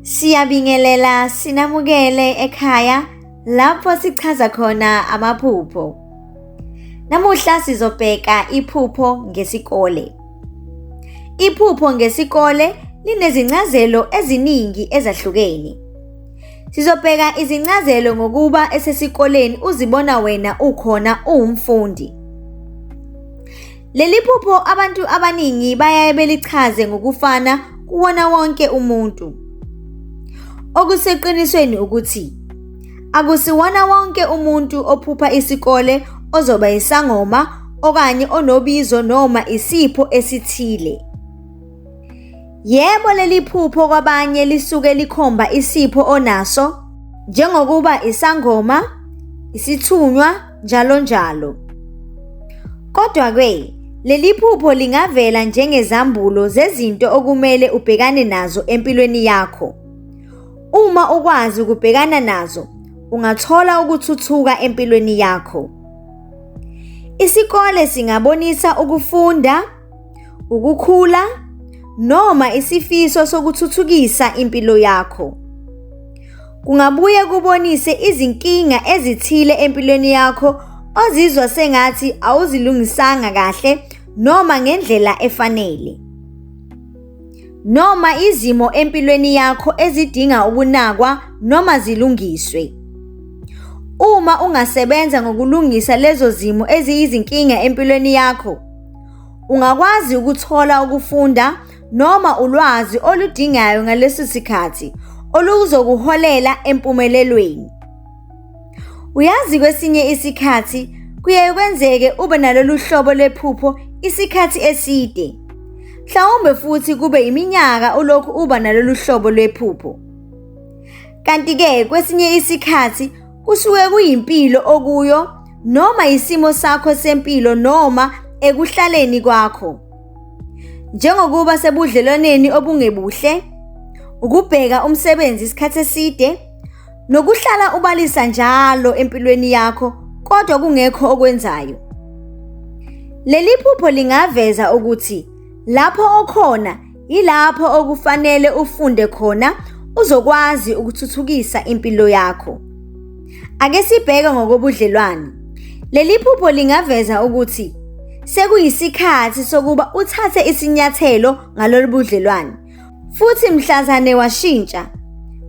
Siyabingelela sinamukele ekhaya lapho sichaza khona amaphupho. Namuhla sizobheka iphupho ngesikole. Iphupho ngesikole linezincazelo eziningi ezahlukene. Sizobheka izincazelo ngokuba esesikoleni uzibona wena ukhona uwumfundi. Leli phupho abantu abaningi bayaye belichaze ngokufana kuwona wonke umuntu. Okuseqinisweni ukuthi akusiwona wonke umuntu ophupha isikole ozoba isangoma okanye onobizo noma isipho esithile. Yebo leli phupho kwabanye lisuke likhomba isipho onaso njengokuba isangoma, isithunywa njalo njalo. Kodwa-ke, leli phupho lingavela njengezambulo zezinto okumele ubhekane nazo empilweni yakho. Uma ukwazi ukubhekana nazo, ungathola ukuthuthuka empilweni yakho. Isikole singabonisa ukufunda ukukhula noma isifiso sokuthuthukisa impilo yakho. Kungabuye kubonise izinkinga ezithile empilweni yakho ozizwa sengathi awuzilungisanga kahle noma ngendlela efanele. Noma izimo empilweni yakho ezidinga ukunakwa noma zilungiswe. Uma ungasebenza ngokulungisa lezo zimo eziyizinkinga empilweni yakho, Ungakwazi ukuthola ukufunda noma ulwazi oludingayo ngalesi sikhathi oluzokuholela empumelelweni. Uyazi kwesinye isikhathi kuye kwenzeke ube nalolu hlobo lephupho isikhathi eside. Mhlawumbe futhi kube iminyaka ulokhu uba nalolu hlobo lwephupho. Kanti-ke kwesinye isikhathi Kusuke kuyimpilo okuyo noma isimo sakho sempilo noma ekuhlaleni kwakho. Njengokuba sebudlelwaneni obungebuhle, ukubheka umsebenzi isikhathi eside nokuhlala ubalisa njalo empilweni yakho kodwa kungekho okwenzayo. Leli phupho lingaveza ukuthi lapho okhona Yilapho okufanele ufunde khona uzokwazi ukuthuthukisa impilo yakho. Ake sibheke ngokobudlelwane. Leli phupho lingaveza ukuthi sekuyisikhathi sokuba uthathe isinyathelo ngalolu budlelwane futhi mhlazane washintsha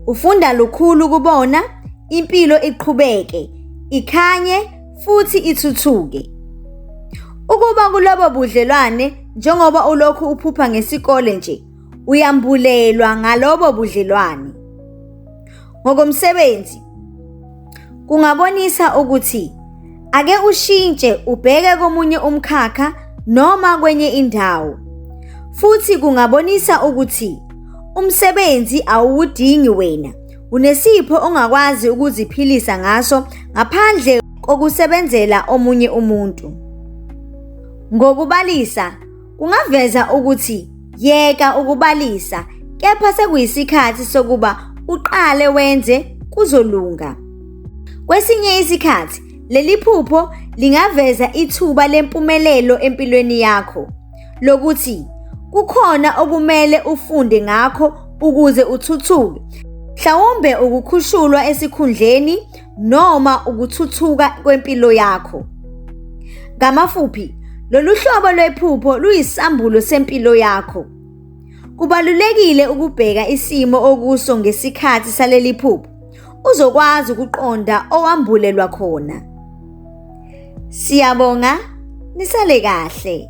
ufunda lukhulu kubona impilo iqhubeke ikhanye futhi ithuthuke. Ukuba kulobo budlelwane njengoba ulokhu uphupha ngesikole nje, uyambulelwa ngalobo budlelwane. Ngokomsebenzi kungabonisa ukuthi ake ushintshe ubheke komunye umkhakha noma kwenye indawo. Futhi kungabonisa ukuthi umsebenzi awuwudingi wena Unesipho ongakwazi ukuziphilisa ngaso ngaphandle kokusebenzela omunye umuntu. Ngokubalisa, kungaveza ukuthi yeka ukubalisa kepha sekuyisikhathi sokuba uqale wenze kuzolunga. Kwesinye isikhathi leli phupho lingaveza ithuba lempumelelo empilweni yakho. lokuthi kukhona okumele ufunde ngakho ukuze uthuthuke mhlawumbe ukukhushulwa esikhundleni noma ukuthuthuka kwempilo yakho ngamafuphi lolu hlobo lwephupho luyisambulo sempilo yakho kubalulekile ukubheka isimo okuso ngesikhathi saleli phupho uzokwazi ukuqonda owambulelwa khona siyabonga nisale kahle